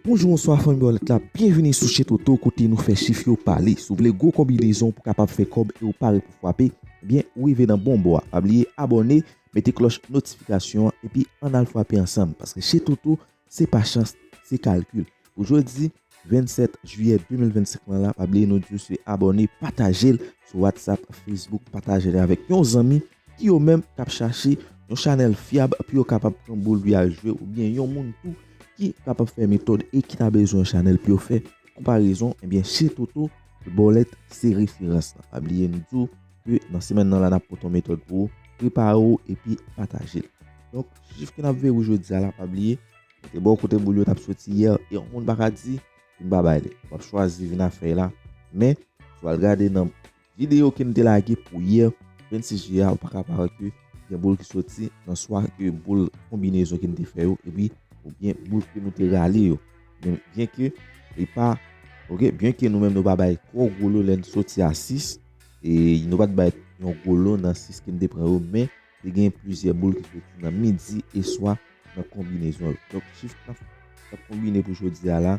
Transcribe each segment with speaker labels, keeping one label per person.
Speaker 1: Bonjou bonswa fanmi Bòlèt la, byenvini sou Chez Toto kote nou fè chif yo pale. Si w vle gwo konbinezon pou w kapab fè kòb e w pare pou fwape, ebyen ou rive nan bon bò a. Pa bliye abòne, mete klòch notifikasyon an epi ann al fwape ansanm paske Chez Toto se pa chans, se kalkil. Pou jodi 27 jiyè 2025 lan la, pa bliye nou di w se abòne, pataje l sou WhatsApp, Facebook, pataje l avèk yon zanmi. ki yo menm kap chache yon chanèl fyab pou yo kapab pran boul pou yal jwe oubyen yon moun tou ki kapab fè metòd e ki ta bezwen yon chanèl pou yo fè konparezon ebyen Chez Toto le Bòlèt se referans la pa bliye nou diw ke nan semèn nan la nap pote yon metòd pou ou prepare ou epi patajel donk chif ke nap verou jodia la pa bliye mete bò kote boul yo tap soti yè e yon moun paka di li pa bay li wap chwazi vin a fèy la men si wal gade nan Video kem te lage pou yè 26 juillet a ou paka pa wè ke gen boul ki soti nan swa ke boul konbinezon kem te fè yo epi ou gen boul ke nou te rale yo men byen ke li pa ok byen ke nou menm nou pa bay twò gwo lo lèn soti a 6 e nou pat bay yon gwo lo nan 6 kem te pran yo men te gen plizyè boul ki soti nan midi e swa nan konbinezon yo donk chif 9 ap konbine pou jodia la.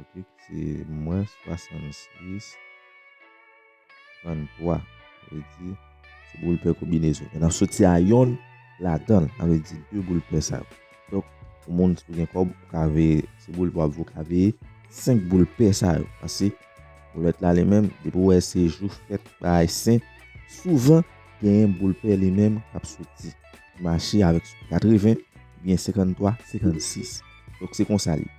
Speaker 1: Ok se mwen 66 33 sa vle di se boul pè konbinezon men nap soti a yonn ladanl sa vle di 2 boul pè sa yo donk pou moun ki gen kòb ou ka veye se boul wap veye ou ka veye 5 boul pè sa yo pase boulèt la li menm depi ou wè se jou fèt bagay sen souvan genyen boul pè li menm kap soti ki mache avèk 80 oubyen 53 56 donk se konsa li ye.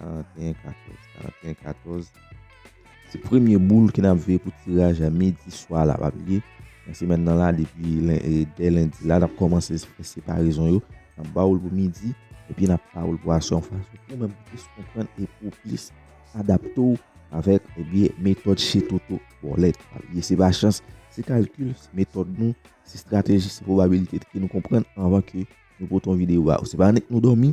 Speaker 1: 41 14 41 14 Se premye boul ki nap veye pou tiraj a midi swa la pa bliye nan semèn nan la depi dè lendi la nap kòmanse fè separezon yo nap ba ou l pou midi epi nap ba ou l pou aswè yon fason pou ou menm plis konprann e pou ou plis adapte ou avèk ebyen metòd Chez Toto Bòlèt pa bliye se pa chans se kalkil se metòd nou se strateji se pwobabilite ke nou konprann anvan ke nou pote yon videyo ba ou se pa annik nou dòmi.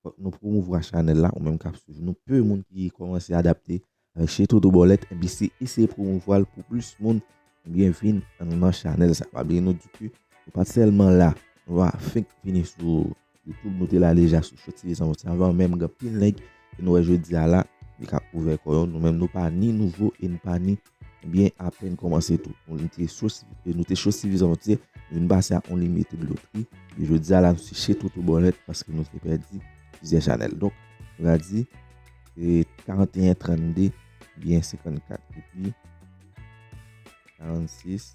Speaker 1: Fòk nou promouvwa chanèl la ou menm kap swiv nou peu moun ki kòmanse adapte avèk Chez Toto Bòlèt enpi se eseye promouvwal pou plis moun ebyen vin nan chanèl sa pa bliye nou di ke nou pat sèlman la nou pa fenk vini sou YouTube nou te la deja sou Show TV Zanroti avan menm gen anpil nèg ke nou wè jodia la yo kap ouvè kò yo nou menm nou pa ni nouvo e nou pa ni Ebyen apèn kòmanse tou, nou nou te cho sivi, nou te cho sivizan nou te, nou vin pase a on limite dlo fri, e jodi a la nou seche tout ou bon nèt paske nou te pèdi plizyè chanèl. Donk, nou ka di, e 41, 32, ebyen 54, epi 46.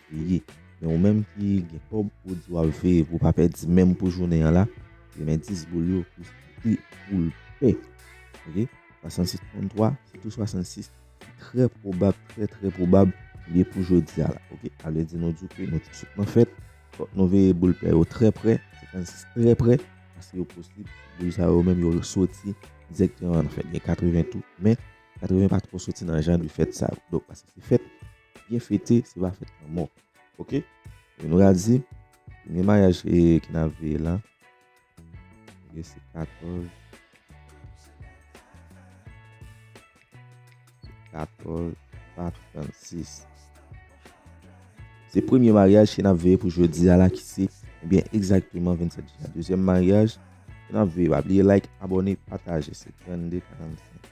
Speaker 1: ou ye men ou menm ki gen kòb ou di wap veye pou pa pèdi menm pou jounen an la e men 10 boul yo pou pri poul pè ok 66 33 sitou 66 ki trè pwobab trè trè pwobab liye pou jodia la ok sa vle di nou di w ke nou te sot nan fèt fòk nou veye boul pè yo trè prè 56 trè prè paske yo posib boul sa yo menm yo soti direkteman nan fèt gen 80 tou men 80 pa twò soti nan jan de fèt sa yo donk paske se fèt byen fete se pa fèt lanmò ok e nou ka di premye maryaj ki n ap veye la ebyen se 14 14 Bak 36 se premye maryaj ki n ap veye pou jodi a la ki se ebyen egzakteman 27 jen dezyèm maryaj ki n ap veye pa bliye like abòne pataje se 32 45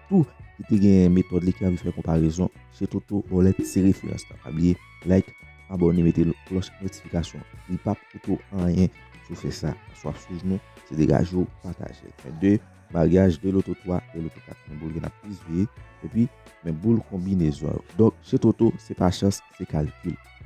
Speaker 1: tou ki te genyen metòd li ki anvi fè konparezon se Toto Bòlèt se referans la pa bliye like abòne mete klòch notifikasyon li pap koute w anyen si w fè sa paske wap swiv nou se degaje w pataje l men 2 maryaj 2 loto 3 2 loto 4 men boul gen ap plis veye epi men boul konbinezon yo donk se Toto se pa chans se kalkil.